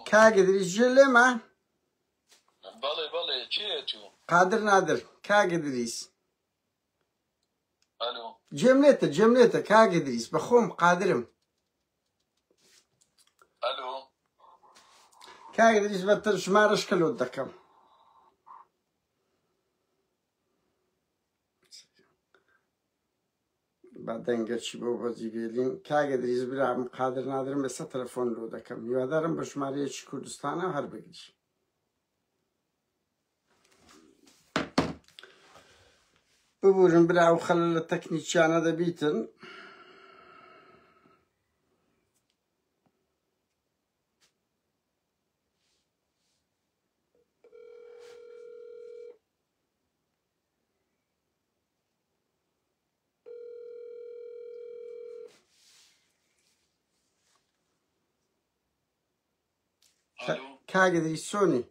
کاک ئیدریس جێ لێمە بەڵێ بەڵێ چێت و قادر نادر کاک ئیدریس ئەلو جێم لێتە جێم لێتە کاک ئیدریس بە خۆم قادرم ئەلو کاک ئیدریس بە تر ژمارەش کەلۆت دەکەم با دەنگەچی بۆ بەجی بێلین کاگە دریز برام قادر نادرم ئێستا تەلەفۆن لۆ دەکەم هیوادارم بە ژمارەیەکی کوردستانە هەر بگری ببورن برا و خەل لە تەکنیکیانە دەبیتن کاگدری سۆنی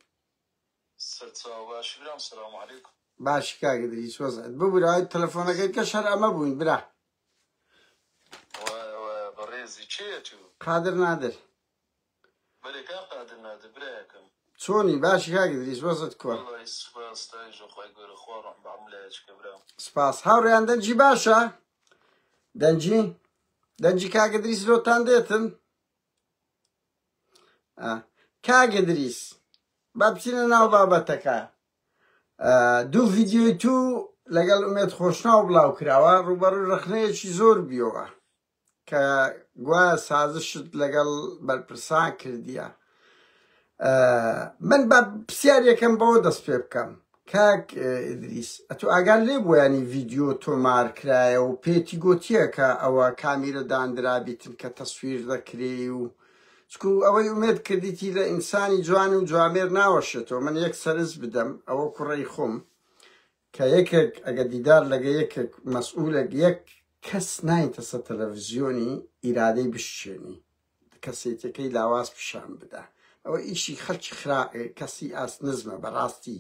باش کاگدری سۆزت ببوورای تەلەفۆنەکەی کە شەر ئەمە بووین برا قادر نادر بەرێ کاک قادر نادر برایەکەم. چۆنی باشی کاک ئیدریس وەزعت کوە. وەڵای سوپاس تایژە خوای گەورە خوا ڕەحم بە هەموو لایەک بکە برام. سپاس هاوڕێیان دەنگی باشە دەنگی دەنگی کاک ئیدریس لۆتان دێتن ئا کاک ئیدریس با بچینە ناو بابەتەکە دوو ڤیدیۆی تو لەگەڵ ئومێد خۆشناو بڵاو کراوە ڕووبەڕووی ڕەخنەیەکی زۆر بیەوە کە گوایە سازشت لەگەڵ بەرپرسان کردیە من بە پرسیارێکم بەوە دەست پێ بکەم کاک ئیدریس ئەتو ئاگار لێ بۆیانی ڤیددیو تۆمار کرایە و پێتی گوتیە کە ئەوە کامیرە داندرابیتن کە تەسویر دەکرێ و چکو ئەوەی ئومێد کردیتی لە ئینسانی جوان و جوامێر ناوەشێتەوە من یەک سەرنج بدەم ئەوە کوڕی خۆم کە یەکێک ئەگەر دیدار لەگە یەکێک مەسئولێک یەک کەس نایتە سەر تەلەفزیۆنی ئیرادەی بشچێنی کەسێتیەکەی لاواز پیشان بدا ئەوە ئیشی خەلکی خرا کەسی ئاست نزمە بەڕاستی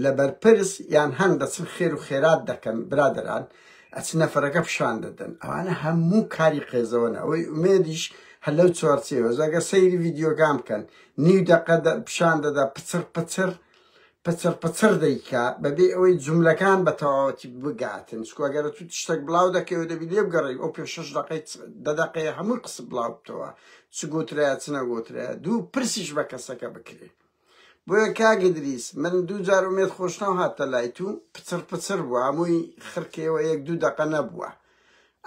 لە بەرپرس یان هەن دەچن خێر و خێرات دەکەن برادران ئەچ نەفرەکە پیشان دەدەن ئەوانە هەموو کاری قێزەوەنە ئەوەی ئومێدیش هەر لەو چوارچێوە زەگە سەیری ڤیددیوگان بکەن نیو دەقە پیشان دەدا پچڕ پچڕ پچڕ پچڕ دەیکا بەبێ ئەوەی جوملەکان بە تەواوەتی بگاتن چکو ئەگەرە تو تشتەک بڵاو دەکەی و دەبی لێ بگەڕی ئەو پێ شەش دەقەی دە دەقەیە هەمووی قسە بڵاو بتەوە چ گوترایە چ نەگوترایە دوو پرسیش بە کەسەکە بکرێ بۆیە کاک ئیدریس من دوو جار ئومێد خۆشناو هاتە لای تو پچڕ پچڕ بوو هەمووی خڕکەیەوە یەک دوو دەقە نەبووە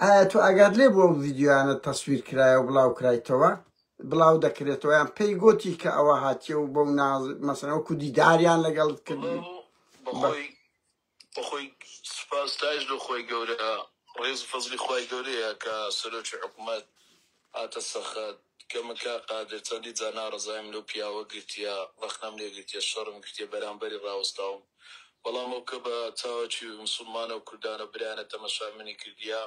ئایا تو ئاگات لێ بووە ئەو ڤیدیۆیانە تەسویر کرایە و بڵاو کرایتەوە بڵاو دەکرێتەوە یان پێی گۆتی کە ئەوە هاتیە و بەو ناز مەسەن وەکو دیداریان لەگەڵت کرد بەخۆی سپاستایش لە خۆی گەورە ڕێز فەزلی خی گەورەیە کە سەرۆکی حکوومەت هاتە سەخت کە مکە قادر چەندی جا ناڕزایم لەو پیاوە گرتیە ڕخنەم لێ گرتیە شەڕم گرتیە بەرامبەری ڕاوستاوم بەڵام ئەو کە بە چاوەکی مسلمانە و کوردانە برایانە تەمەشا منی کردیە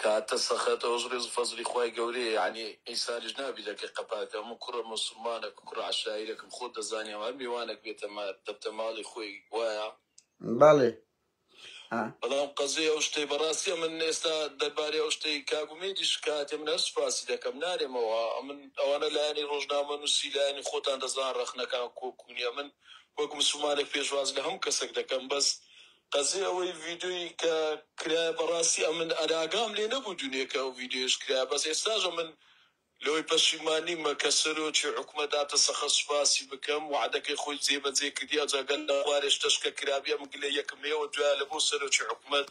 کاتە سەخەت ئەوەش ڕێز و فەزڵی خوای گەورەیە یەعنی ئیساریش نابی لەکە قەپاکە من کوڕە موسوڵمانەک کوڕە عەشایرەکم خۆت دەزانی ئەوە هەر میوانەک بێتە مار دەبتە ماڵی خۆی وایە بەڵێ ئا. بەڵام قەزێ ئەو شتەی بەڕاستیە من ئێستا دەربارەی ئەو شتەی کاک ئومێدی شکایەتێ من هەر سوپاسی دەکەم نارێمەوە ئەمن ئەوانە لایەنی ڕۆژنامە نووسی لایەنی خۆتان دەزان ڕەخنەکان کۆک و نیە من وەک مسوڵمانێک پێشواز لە هەموو کەسێک دەکەم بەس قەزێ ئەوەی ڤیدۆی کە کرایە بەڕاستی ئەمن ئەراگام لێ نەبوو دونێ کە ئەو ڤیدۆیەش کرایە بەس ئێستاش ئەمن لەوەی پەشیمان نیمە کە سەرۆکی حکومەت داتە سەخە سوپاسی بکەم وەعدەکەی خۆی جێ بەجێ کردی ئەجا گەر لە خوارێش تەشکە کرابی ئەمن گلەی یەکم لێ وە دوایە لە بۆ سەرۆکی حکومەت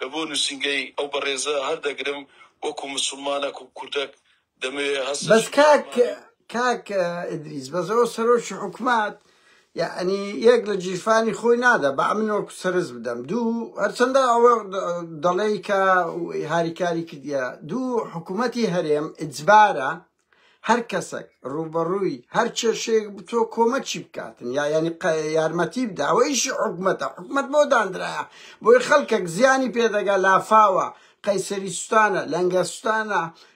لە بۆ نوسینگەی ئەو بەڕێزە هەر دەگرم وەکو مسوڵمانەک و کوردەک بەس کاک کاک ئدریس بەس ئەو سەرۆکی حکومات یعنی یەک لە جیرفانی خۆی نادا بە من وەکو سەرز بدەم دوو هەرچەندە ئەوە دەڵێی کە هاریکاری کردە دوو حکوومەتی هەرێم ئجبارە هەر کەسەک ڕوبەڕووی هەر کێشێک بتۆ کۆمەکی بکاتن یا ینی یارمەتی بدا ئەوەیشی حکومەتە حکومت بۆ دانرایە بۆی خەڵکەک زیانی پێدەگا لافاوە قەیسەریستانە لەنگەستانە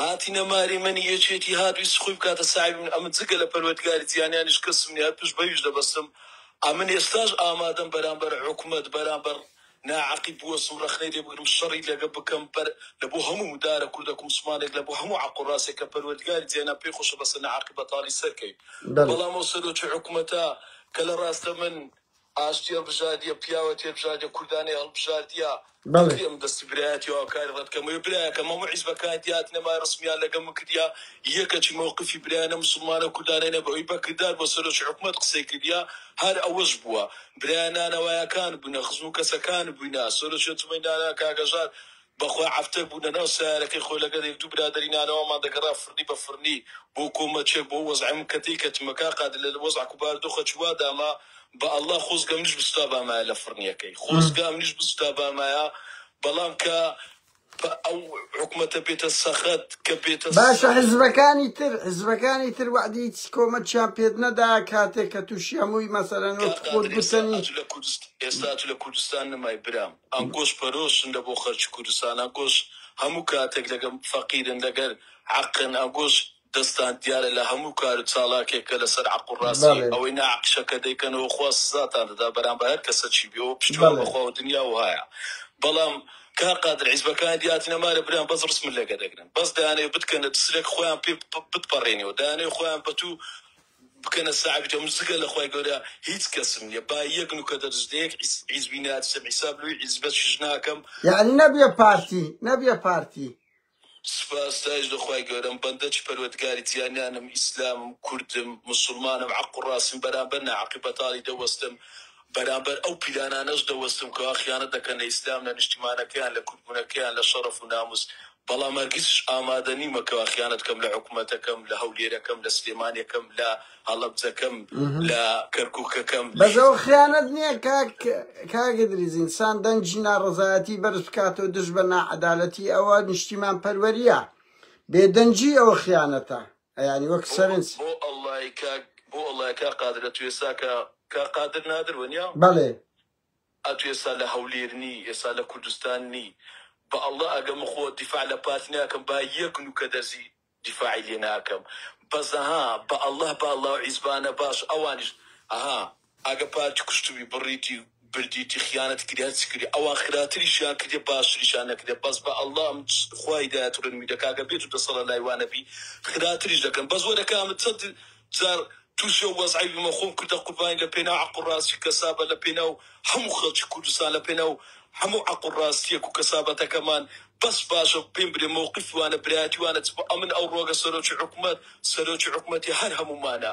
هاتینە ماری من یەکێتی هات ویست خوی بکاتە ساحێبی من ئەمن جگە لە پەروەردگاری جیانانیش کەسم نیە هەر پشت بەویش دەبەستم ئەمن ئێستاش ئامادەم بەرامبەر حکومەت بەرامبەر ناعەقید بوەستم رەخنەی لێ بگرم شەڕی لەگە بکەم بەر لە بۆ هەموو مدارە کوردە کومسمانێک لە بۆ هەموو عەق و راسێک کە پەروەردگاری جیانان پێی خۆشە بەسە ناعەقی بەتالی سەر کەی بەڵام ئەو سەرۆکی حکومەتە کە لە راستە من ئاشتی هەڵبژاردیە پیاوە تێبژاردە کوردانەی هەڵبژاردیە. بەڵێ ئەم دەستی برایەتی هاوکاری ڕەت کە مەوێ برایەکەم هەموو حیزبەکان دیات نەما ڕسمیان لەگەڵ من کردیا یەکەچی مەوقفی برایانە موسڵمانە کوردانەینە بە هۆی بەکردار بۆ سەرۆکی حکومەت قسەی کردیا هەر ئەوەش بووە برایان نانەوایەکان بووینە خزم و کەسەکان بووینە سەرۆکی ئەنجومەنی نانەوا کاک هەژار بەخوای عەفتەر بوو لەناو سەیارەکەی خۆی لەگەڵ یەک دوو برادەری نانەوامان دەگەڕا فرنی بە فرنی بۆ کۆمەچێک بۆ وەزعی من کە تێیکەتمە کاک قادر لە وەزعک و باردۆخە چ وا داما بە ئەڵا خۆزگە منیش بسوتابامایە لە فرنیەکەی خۆزگا منیش بسوتابامایە بەڵام کە پە ئەو حکومەتە بێتە سەخت کە بێتە باشە سەخت. حزبەکانی تر حزبەکانی تر وەعدی هیچ کۆمەکیان پێت نەدا کاتێک کە توشی هەمووی مەسەلەن کاک وەکو خۆت قادر ئێستا گوتەنی ئەتو لە کوردست ئێستا ئەتو لە کوردستان نەمای برام. ئاکۆش پەرۆشن لە بۆ خەرکی کوردستان ئاکۆش هەموو کاتێک لەگەم فەقیرن لەگەر عەقن ئاکۆش دەستان دیارە لە هەموو کار و چالاکێک کە لە سەر عەق و ڕاستی ئەوەی نا عەقیشە کە دەیکەنەوە خوا سزاتان دەدا بەرامبە هەر کەسەکی بێ ئەوە پشتیوان بە خوا و دنیا و هایە بەڵام کاک قادر حیزبەکان دیاتی نەمارە برام بەس ڕسمت لەگە دەگرن بەس دەیانەوێ بتکەنە دسرێک خۆیان پێ بتپەڕێنیەوە دەیانەوێ خۆیان بە تو بکەنە ساحێبی تۆم جگە لە خوای گەورە هیچ کەسم نیە با یەک نوکە دەرس لە یەک حیزبی نەئەترسم حیساب لەوی حیزبەشیش ناکەم یەعنی نەبیە پارتی نەبیە پارتی. سپاس ستایش لە خوای گەورەم بەندە چ پەروەدگاری جیانیانم ئیسلامم کوردم مسوڵمانم عەق و ڕاستیم بەرامبەر ناعەقی بەتاڵی دەوەستم بەرامبەر ئەو پیلانانەش دەوەستم کەوا خیانەت دەکەن لە ئیسلام، لە نیشتیمانەکەیان، لە کوردبونەکەیان، لە شەڕەف و ناموس، بەڵام هەرگیزش ئامادە نیمە کەوا خیانەت کەم لە حکومەتەکەم، لە هەولێرەکەم، لە سلێمانیەکەم، لە هەڵەبجەکەم، لە کەرکوکەکەم. بەس ئەوە خیانەت نیە کاک کاک ادریس انسان دەنگی ناڕەزایەتی بەرز بکاتەوە دژ بە ناعەدالەتی ئەوە نیشتیمان پەروەریە بێدەنگی ئەوە خیانەتە ئەیانی وەک سەرنج. بۆ ئەڵای کاک بۆ ئەڵای کاک قادر ئەتو ئێسا کە کاک قادر نادر وەنیا؟ بەڵێ. ئەتو ئێسا لە هەولێر نی ئێسا لە کوردستان نی بە ئەڵا ئەگە من خۆ دیفاع لە پارتی ناکەم با یەک نوکە دەرزی دیفاعی لێ ناکەم بەس ها بە ئەڵا با ئەڵا و عیزبانە باش ئەوانیش ئەها ئەگە پارتی کوشتبی بڕیتی بردیتی خیانەت کردی هەرچی کردی ئەوان خراتریشیان کردیە باشتریشیان نەکردیە بەس بە اللە من خوا هیدایەت ڕێنوی دەکا گەر بێتو دەسەڵە لای وا نەبی خراتریش دەکەن بەس وەرە کا من چەند جار توشی ئەو وەزعەی بمە خۆم کردە قوربانی لە پێناو عەقڵ ڕاستی کەسابە لە پێناو هەمو خەڵکی کوردستان لە پێناو هەمو عەقڵ ڕاستیەک و کەسابەتەکەمان بەس باشە پێم برێ مەوقیفی وانە برایەتی وانە چ بۆ ئەمن ئەو ڕۆگە سەرۆکی حکومەت سەرۆکی حکومەتی هەر هەمومانە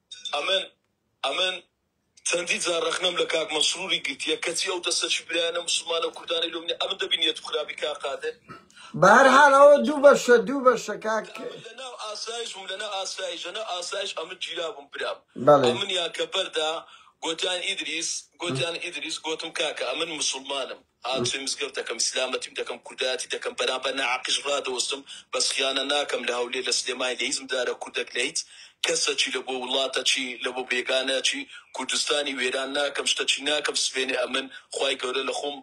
ئەمن ئەمن چەندی جار رەخنەم لە کاک مەسروری گرتیە کەچی ئەو دەستە چی برایانە موسڵمانە کوردانەی لۆ منی ئەمن دەبی نیەت خراپی کاک قادر بە هەر حال ئەوە دوو بەشە دوو بەشە کاک ئەمن لە ناو ئاسایش بووم لە ناو ئاسایش لە ناو ئاسایش ئەمن گیرابووم برام بەڵێ ئەمنیان کە بەردا گۆتیان ئیدریس گۆتیان ئیدریس گۆتم کاکە ئەمن موسڵمانم هاتووی مزگەوت دەکەم سلامەتیم دەکەم کوردایەتی دەکەم بەرامبەر ناحەقیش ڕادەوەستم بەس خیانە ناکەم لە هەولێر لە سلێمانی لە هیچ مدارە کوردەک لە هیچ کەسەکی لە بۆ وڵاتەکی لە بۆ بێگانەکی کوردستانی وێران ناکەم شتەکی ناکەم سبەینێ ئەمن خوای گەورە لە خۆم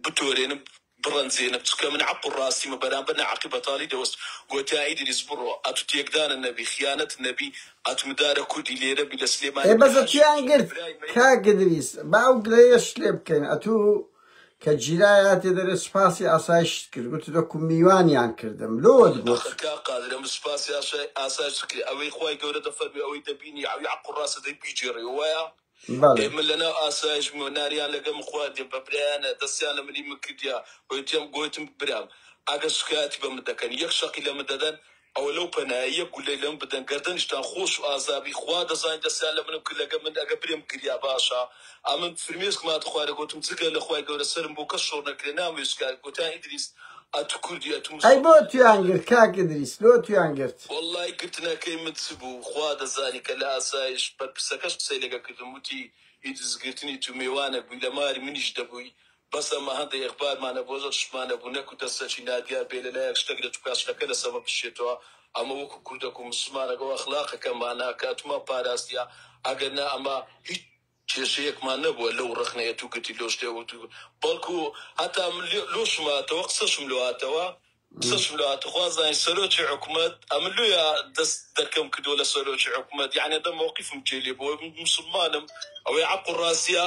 بتۆرێنم بڕەنجێنم چکە من حەق و ڕاستیمە بەرامبەر ناحەقی بەتاڵی دەوەست گۆتیان ئیدریس بڕۆ ئەتوو تێکدانت نەبی خیانەتت نەبی قەت مدارە کوردی لێرە بی لە سلێمانی ئێ بی بەزە هاشم کێیان گرت برای مەی. کاک ادریس با ئەو گلەیەشت لێ بکەین ئەتوو کە جیرای هاتێ دەرێ سوپاسی ئاسایشت کرد گوتت وەکو میوانیان کردم لۆت گوت. ئاخر کاک قادر ئەمن سوپاسی ئاسایشت کرد ئەوەی خوای گەورە دەفەرموێ ئەوەی دەبینی عەوی عەقوڕاسە دەی بیگێڕی وەوایە؟ ئێ من لەناو ئاسایش بووم ناریان لەگەم خواردیم بە برایانە دەستیان لە منی من کردیە وتیان گۆتم برام ئەگەر شکایەتی بە من دەکەن یەک شەقی لە من دەدەن ئەوە لەو پەنایە یەک گولەی لەم بدەن گەردەنیشتان خۆش و ئازابی خوا دەزانی دەستیان لە منم کرد لەگە من ئەگە برێم گریا باشە ئەمن فرمێسکماتە خوارێ گۆتم جگە لە خوای گەورە سەرم بۆ کەس شۆڕ نەکرێ نامەوێ شکایەت گۆتیان ئیدریس ئەی بۆ تویان گرت کاک ئدریس لۆ تویان گرت. وەڵای گرتنەکەی مت چ بوو خوا دەزانی کە لە ئاسایش بەرپرسەکەش قسەی لەگەڵ کردم وتی ئیدرس گرتنی تو مێوانەک بوی لە ماری منیش دەبوی بەس ئەمە هەندەک ئەخبارمانە بۆ زۆر تشمان نەبوو نەکو دەستەکی نادیار بێ لە لایەک شتەک لە توکا شتەکە لە سەمە بشێتەوە ئەمە وەکو کوردەک و مسوڵمانەک ئەو ئەخلاقەکەمان نا کاتومان پاراستیە ئەگەر نا ئەمە هیچ کێشەیەکمان نەبووە لەو ڕەخنەیە تو گرتی لۆ شتێ وتو بەڵکو هەتا من لۆشم هاتەوە قسەشم لۆ هاتەوە قسەشم لۆ هاتە خوا زانی سەرۆکی حکومەت ئەمن لۆیە دەست دەرکەم کردوە لە سەرۆکی حکومەت یەعنی دە مەوقیفم جێ لێ بۆ من موسڵمانم ئەوەی عەق و ڕاستیە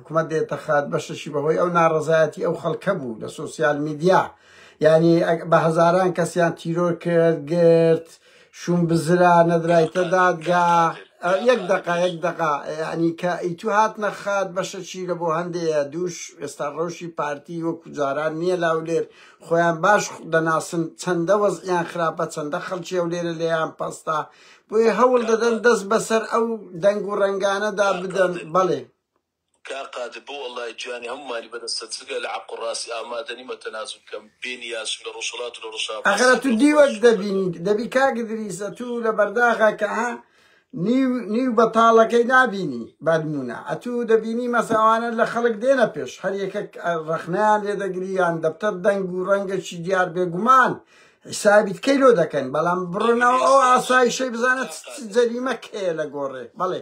حکومەت دێتە خات بەشەشی بەهۆی ئەو ناڕەزایەتی ئەو خەڵکە بوو لە سۆسیال میدیا یعنی بە هەزاران کەسیان تیرۆر کرد گرت شوم بزرا نەدرایتە دادگا یەک دقا یەک دقا ینی کە ئیتو هات نەخات بەشەچی لە بۆ هەندێە دووش ئێستا ڕەوشی پارتی وەکو جاران نییە لاولێر خۆیان باش دەناسن چەندە وەزیان خراپە چەندە خەڵکی ئەو لێرە لێیان پەستا بۆیە هەوڵ دەدەن دەست بەسەر ئەو دەنگ و ڕنگانەدا بدەن بەڵێ کاک قادر بۆ اللەی گیانی هەموومانی بەدەستە جگە لە حەق و ڕاستی ئامادەنیمە تەنازول بکەم بێ نیازشم لە ڕۆژهەڵات و لە ڕۆژاڤا ئەخەر سەر ئەتوو دیوەک دەوڵەتیش بەدەست دەبینی دەبی کاک ادریس ئەتوو لە بەرداغەکە نیو نیو بەتاڵەکەی نابینی بانموونە ئەتوو دەبینی مەسە ئەوانە لە خەڵک دێنە پێش هەر یەکەک ڕەخنەیان لێ دەگری یان دەفتەر دەنگ و ڕەنگەکی دیار بێگومان حیسابیت کەی لۆ دەکەن بەڵام کاک بڕنەوە ادریس ئەو بەخشش ئاسایشەی بزانە کاک چ قادر جەریمەک هەیە لە گۆڕێ بەڵێ.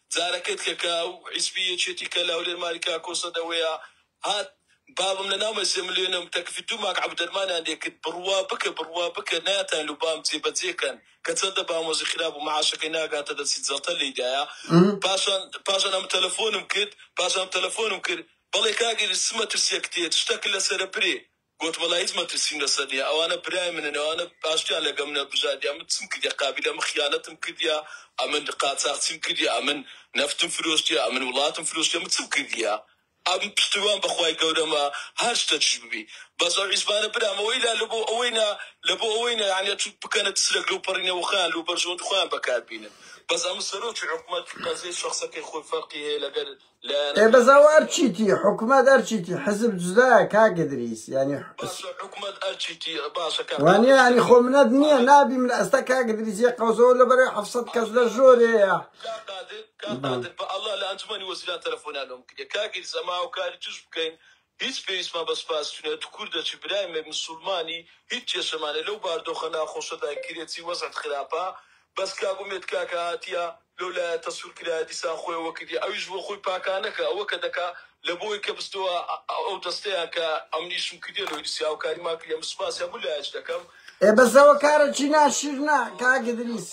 زارەکت کە کە ئەو حیزبی یەکێتی کە لە هەولێر ماری کاکۆ سەدەوەیە هات بابم لە ناومە سێ ملیۆنم تەکفی دوو ماک عەبو دەرمانیان لێ کرد بڕوا بکە بڕوا بکە نایەتان لە بام جێ بەجێ کەن کە چەندە بام وەزی خراپ بوو معاشەکەی ناگاتە دەسی جەڵتە لێی دایە پاشان پاشان ئەم تەلەفۆنم کرد پاشان تەلەفۆنم کرد بەڵێ کاک ئیدریس چ مەترسیەکت هەیە چ شتەکت لەسەرە برێ گۆتم وەلا هیچ مەترسیم لەسەر نیە ئەوانە برای منن ئەوانە ئاشتیان لەگەڵ منە بژاردیان من چم کردیە قابیلە من خیانەتم کردیە ئەمن قاچاخچیم کردیە ئەمن نەفتم فرۆشتیە ئەمن وڵاتم فرۆشتیە من چم کردیە ئەمن پشتروان بەخوای گەورەمە هەر شتەکیش ببی بەس ئەو حیزبانە برام ئەوەی لا لەبۆ ئەوەینا لەبۆ ئەوەینا یانی ئەچوو بکەنە تسرەک لەو پەڕینە وەخۆیان لەو بەرژەوەندی خۆیان بەکار بینن بەس ئەمن سەرۆکی حکومەت قەزیەی شەخسەکەی خۆی فەرقی هەیە لەگەر ئێ بەس ئەو ئەرچیتی حکومەت ئەرچیتی حزب جودایە کاک ئیدریس یانی وانیە ینی خۆ منەت نییە نابی من ئەستا کاک ئیدریس یە قەوزەوە لە بەرەی حەفسەت کەس لە ژۆرێیە بە ئەڵڵا لە ئەنجومەنی وەزیران تەلەفۆنیان لۆم کردیە کاک ئیدریس ئەمە هاوکاری توش بکەین هیچ پێویستمان بە سپاستو نیە تو کوردە چ برای مە مسولمانی هیچ کێشەمان نیە لەو باردۆخە ناخۆشەدا کرێ چی وەزعت خراپە بەس کاک ئومێد کاکە هاتیە لەو لایە تەسور کرایە دیسان خۆی ئەوە کردیە ئەویش بۆ خۆی پاکانە کە ئەوە کە دەکا لە بۆی کە بستۆە ئەو دەستەیان کە ئەمنی شم کردیە لۆی دیسی هاوکاریمان کردیە من سپاسی هەموو لایەک دەکەم. ئێ بەس ئەوە کارە چی ناشرنە کاک ئدریس.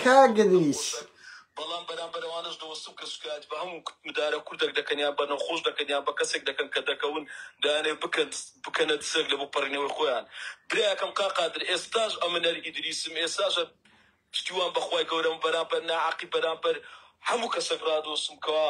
کاک ئدریس. بەڵام بەرامبەر ئەوانەش دەوەستم کە سوکایەت بە هەموو مدارە کوردەک دەکەن یان بە نەخۆش دەکەن یان بە کەسێک دەکەن کە دەکەون دەیانەوێت بکەن بکەنە دزێک لە بۆ پەڕینەوەی خۆیان برایەکەم کاک قادر ئێستاش ئەمنەر ئیدریسم ئێستاش پشتیوان بەخوای گەورەم بەرامبەر ناعەقی بەرامبەر هەموو کەسەک ڕادەوەستم کەوا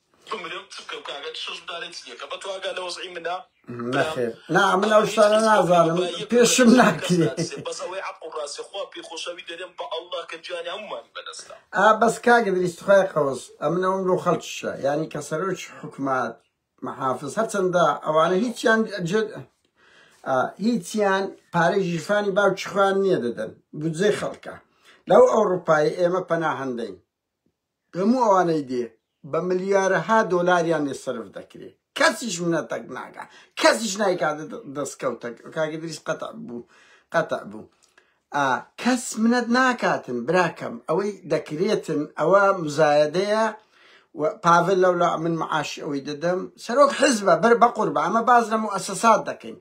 نەخێر نا من ئەو شتانە نازانم پێشم ناکرێ ئا بەس کاگە دریست خوای قەوس ئەمن ئەوم لۆ خەڵکیشە یانی کە سەرۆک حکومات محافظ هەرچەندە ئەوانە هیچیان جد هیچیان پارەی ژیرفانی باوکی خوان نییە دەدەن بودجەی خەڵکە لەو ئەوروپای ئێمە پەناهەندەین هەموو ئەوانەی دێ بە ملیارەها دۆلاریان لێ سەرف دەکرێ کەسیش منەتەک ناگا کەسیش نایکات دەستکەوتە کاک ئیدریس قەتع بوو قەتع بوو کەس منەت ناکاتن براکەم ئەوەی دەکرێتن ئەوە مزایەدەیە پاڤل لەولا من معاش ئەوەی دەدەم سەرۆک حزبە بەر بە قوربە ئەمە باز لە موسەسات دەکەین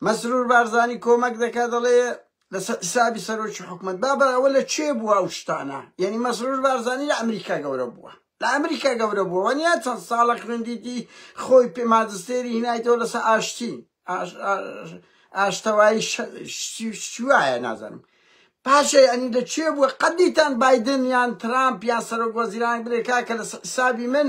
مەسرور بارزانی کۆمەک دەکات دەڵێ لەسەر حسابی سەرۆکی حکومەت با بەراوە لە چێ بووە ئەو شتانە یعنی مەسرور بارزانانی لە ئەمریکا گەورە بووە لە ئەمریکا گەورە بووە وەنیا چەند ساڵە خوێندیتی خۆی پێ مادستێری هینایتەوە لەسەر ئاشتی ئاشتەوایی شوایە نازانم پاشە ئەنی لە چێ بووە قەدیتان بادن یان ترامپ یان سەرۆک وەزیران برێکا کە لە حسابی من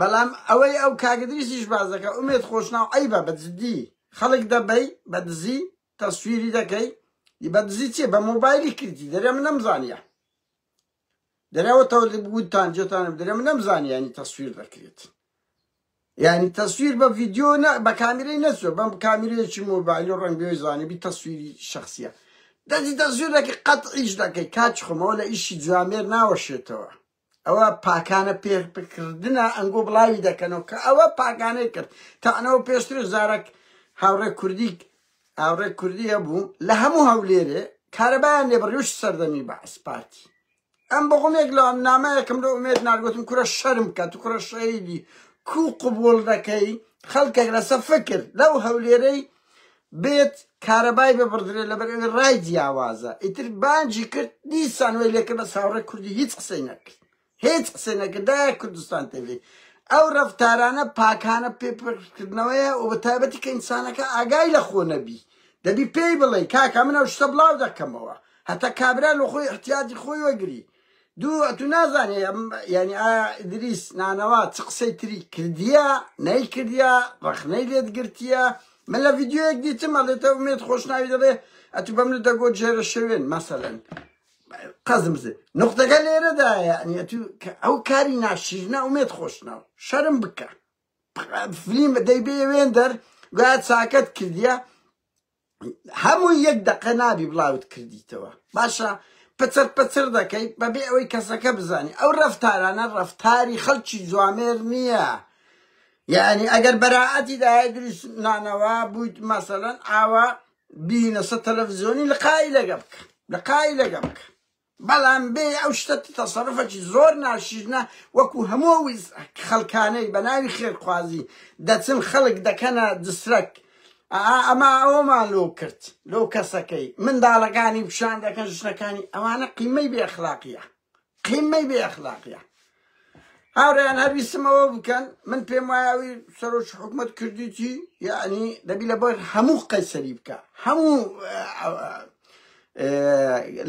بەڵام ئەوەی ئەو کاکدریسیش باس دەکە ئومێد خۆشناو عیبە بە جدی خەڵک دەبەی بە دزی تەسویری دەکەی بە دزی چێ بە مۆبایلی کردی دەرێ من نەمزانیە دەرەوە تەوتان جێتانم دەرێ من نەمزانانی یعنی تەسویر دەکرێت یعنی تەسویر بە ڤیددیو بە کامیرەی نەچوە بەم کامیرەیەکی مۆبایل و ڕنگێ زانیبی تەسویری شخصیە دەجی دەزویرەکە قەت ئیش دەکەی کاچ خۆمەوە لە ئیشی جوامێر ناوەشێتەوە ئەوە پاکانە پێرپکردنە ئەنگۆ بڵاوی دەکەنەوە کە ئەوە پاکانەی کرد تانەوە پێشتر زارەک هاوڕێ کوردیک هاوڕێ کوردیە بوو لە هەموو هەولێرێ کارەبایان لێ بڕیوش سەردەمی بەعس پارتی ئەم بەغمێک لە ئەم نامەیەکم لە ئومێت نارگوتم کورە شەرم کە تو کوڕە شەیدی کو قوبول دەکەی خەڵکێک لەسە فکر لەو هەولێرەی بێت کارەبای ببڕدرێت لەبەرئەوەی ڕای جیاوازە ئیتر بانگی کرد دیسان وەی لێکرد بەس هاوڕێ کوردی هیچ قسەی نەکرد هیچ قسەی نەکرد دایە کوردستان تێبێ ئەو ڕەفتارانە پاکانە پێپڕکردنەوەیە و بە تایبەتی کە ئینسانەکە ئاگای لە خۆ نەبی دەبی پێی بڵێ کاکە من ئەو شتە بڵاو دەکەمەوە هەتا کابرا لە خۆی احتیاجی خۆی وەگری دوو ئەتوو نازانێ ئەم یانی ئایا ئیدریس نانەوا چ قسەی تری کردیە نەیکردیە ڕەخنەی لێت گرتیە من لە ڤیددیوەک دیتم ئەڵێتە ئومێت خۆشناوی دەڵێ ئەتوو بەم لە دەگۆ جێرە شوێن مەسەلەن قەزم بزێ نقطەکە لێرەدا یعنی ئەتوو ئەو کاری ناشیرنە ئومێت خۆشناو شەرم بکە فلیم دەیبێ وێندەر گویا چاکەت کردیە هەمووی یەک دەقە نابی بڵاوت کردیتەوە باشە پچڕ پچڕ دەکەیت بەبێ ئەوەی کەسەکە بزانی ئەو ڕەفتارانە ڕەفتاری خەڵکی جوامێر نییە یعنی ئەگەر بەراعەتی داە دروست نانەوە بوویت مەسەەن ئاوا بینەسە تەلەڤزیۆنی لە قای لەگە بکە لە قای لەگە بکە بەڵام بێ ئەو شتە تەسەروفەکی زۆر ناشیرنە وەکو هەموو ئەو خەڵکانەی بە ناوی خێرخوازی دەچن خەڵک دەکەنە دسرەک ئا ئەما ئەوەمان لۆ کرد لەو کەسەکەی منداڵەکانی پیشان دەکەن ژنەکانی ئەوانە قیمەی بێ ئەخلاقیە قیمەی بێ ئەخلاقیە هاورێیان هەر بیسمەوە بکەن من پێم وایە ئەوی سەرۆکی حکومت کردیتی یعنی دەبی لە بەر هەموو قەیسەری بکە هەموو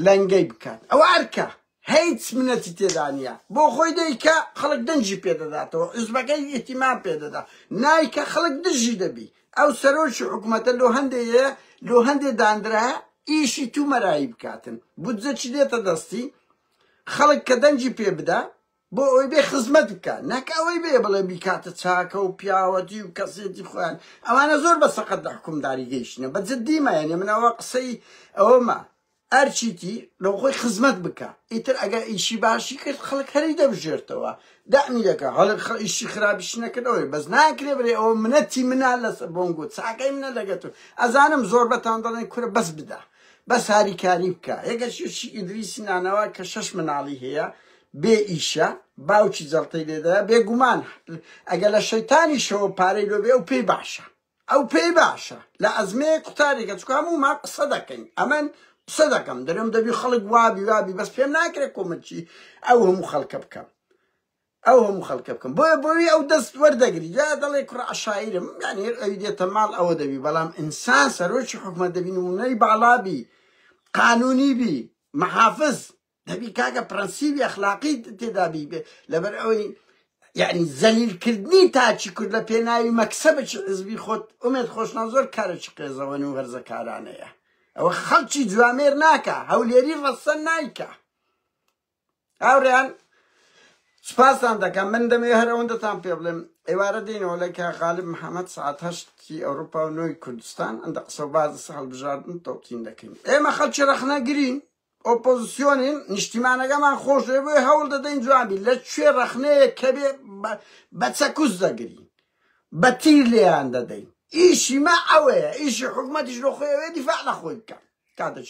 لەنگەی بکات ئەو ئەرکە هیچ منەتی تێدانە بۆ خۆی دەیکە خەڵک دەنجی پێدەداتەوە عزبەکەی ئیتیمان پێدەدا نایکە خەڵک دژی دەبی ئەو سەرۆکی حکوومەتە لۆ هەندێە لۆ هەندێ دانرا ئیشی تو مەرایی بکاتن بودجە چی دێتە دەستی خەڵک کە دەنگی پێ بدا بۆ ئەوەی بێ خزمەت بکا نەک ئەوەی بێ بڵێ بیکاتە چاکە و پیاوەتی و کەسێتی خۆیان ئەوانە زۆر بە سەقەت لە حکومداری گەیشتنە بە جدی مایەنێ من ئەوە قسەی ئەوەمە ئەرچیتی لەو خۆی خزمەت بکە ئیتر ئەگە ئیشی باشی کرد خەڵک هەری دەبژێرتەوە دامی دەکە هەڵک ئیشی خراپیش نەکردەوەی بەس ناکرێ برێ ئەوە منەتی منە لەسەر بۆنگۆ چاکەی منە لەگەتو ئەزانم زۆر بەتان دەڵێن کورە بەس بدە بەس هاریکاری بکە یەکە شی ئیدریسی نانەوە کە شەش مناڵی هەیە بێ ئیشە باوکی جەڵتەی لێدەە بێگومان ئەگە لە شەیتانی شەوە پارەی لۆبێ ئەو پێی باشە ئەو پێی باشە لە ئەزمێ قوتارێکە چکە هەموو ما قسە دەکەین ئەمن قسە دەکەم دەرم دەبی خەڵک وابی وابی بەس پێم ناکرێت کۆمەچی ئەو هەموو خەڵکە بکەم ئەو هەموو خەلکە بکەم بۆیە بۆوی ئەو دەست وەردەگری جا دەڵێ کوڕە عەشایرم یانی هەر ئەوی دێتە ماڵ ئەوە دەبی بەڵام ئینسان سەرۆکی حکومەت دەبی نمونەی باڵا بی قانونی بی محافز دەبی کاکە پرەنسیبی ئەخلاقی تێدا بی لەبەر ئەوەی یعنی زەلیل کردنی تاچی کورد لە پێناوی مەکسەبێکی حزبی خۆت ئومێد خۆشنا زۆر کارێکی قێزەوەن و هەرزەکارانەیە ئەوە خەڵکی جوامێر ناکە هەولێری ڕەسەن نایکە هاورێیان سپاستان دەکەم من دەمێ هەر ئەوەندەتان پێ بڵێم ئێوارە دێنەوە لە کە غالب محەممەد سعات هەشتی ئەوروپا و نۆی کوردستان ئەندە قسە و باز سە هەڵبژاردن تۆتین دەکەین ئێمە خەڵکی ڕەخنەگرین ئۆپۆزیسیۆنین نیشتیمانەکەمان خۆش لێ بۆی هەوڵ دەدەین جوابی لە کوێ ڕەخنەیە کە بێ بە چەکوس دەگرین بە تیر لێیان دەدەین ئیشی مە ئەوەیە ئیشی حکوومەتیش لە خۆیەوەێ دیفاع لە خۆی بکە کاتەچ